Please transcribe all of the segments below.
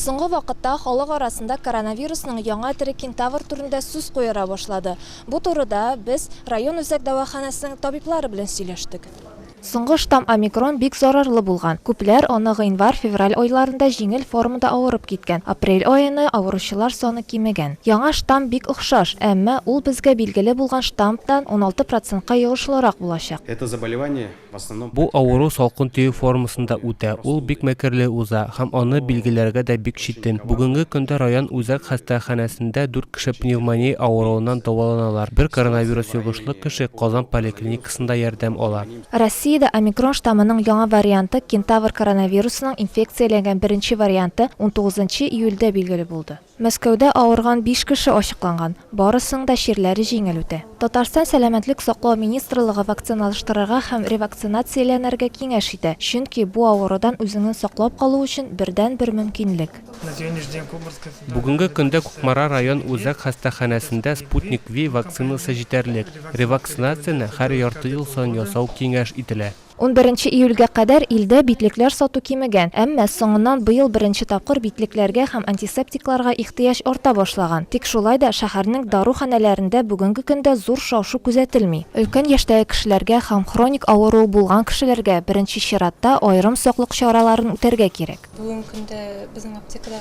Соңгы вакытта халык арасында коронавирусның яңа төре кентавр турында сүз куера башлады. Бу турыда без район үзәк дәваханәсенең табиблары белән сөйләштек. Соңгы штамм омикрон бик зарарлы булган. Күпләр аны гыйнвар-февраль айларында җиңел формада авырып киткән. Апрель аена авыручылар саны кимегән. Яңа штамм бик охшаш, әмма ул безгә билгеле булган штаммтан уналты процентка йогышлырак булачак. Это заболевание Бу авыру салкын төек формасында үтә, ул бик мәкерле уза һәм аны билгеләргә дә бик читен. Бүгенге көндә район үзәк хастаханәсендә дүрт кеше пневмония авыруыннан дәваланалар, бер коронавирус йогышлы кеше Казан поликлиникасында ярдәм ала. Россиядә омикрон штаммының яңа варианты, кентавр коронавирусының инфекцияләнгән беренче варианты, унтугызынчы июльдә билгеле булды. Мәскәүдә авырган биш кеше ачыкланган, барысының да чирләре җиңел үтә. Татарстан Сәламәтлек саклау министрлыгы вакциналаштырырга һәм ревакцинацияләнергә киңәш итә, чөнки бу авырудан үзеңне саклап калу өчен бердәнбер мөмкинлек. Бүгенге көндә Кукмара район үзәк хастаханәсендә Sputnik V вакцинасы җитәрлек. Ревакцинацияне һәр ярты ел саен ясау киңәш ителә. Унберенче июльгә кадәр илдә битлекләр сату кимегән, әмма соңыннан быел беренче тапкыр битлекләргә һәм антисептикларга ихтыяҗ арта башлаган. Тик шулай да шәһәрнең даруханәләрендә бүгенге көндә зур шау-шу күзәтелми. Өлкән яшьтәге кешеләргә һәм хроник авыруы булган кешеләргә беренче чиратта аерым саклык чараларын үтәргә кирәк. Бүгенге көндә безнең аптекада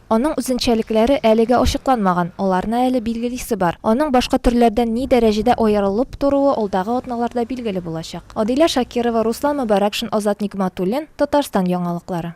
Аның үзенчәлекләре әлегә ачыкланмаган, аларны әле билгелисе бар. Аның башка төрләрдән ни дәрәҗәдә аерылып торуы алдагы атналарда билгеле булачак. Адилә Шакирова, Руслан Мөбарәкшин, Азат Нигъматуллин, Татарстан яңалыклары.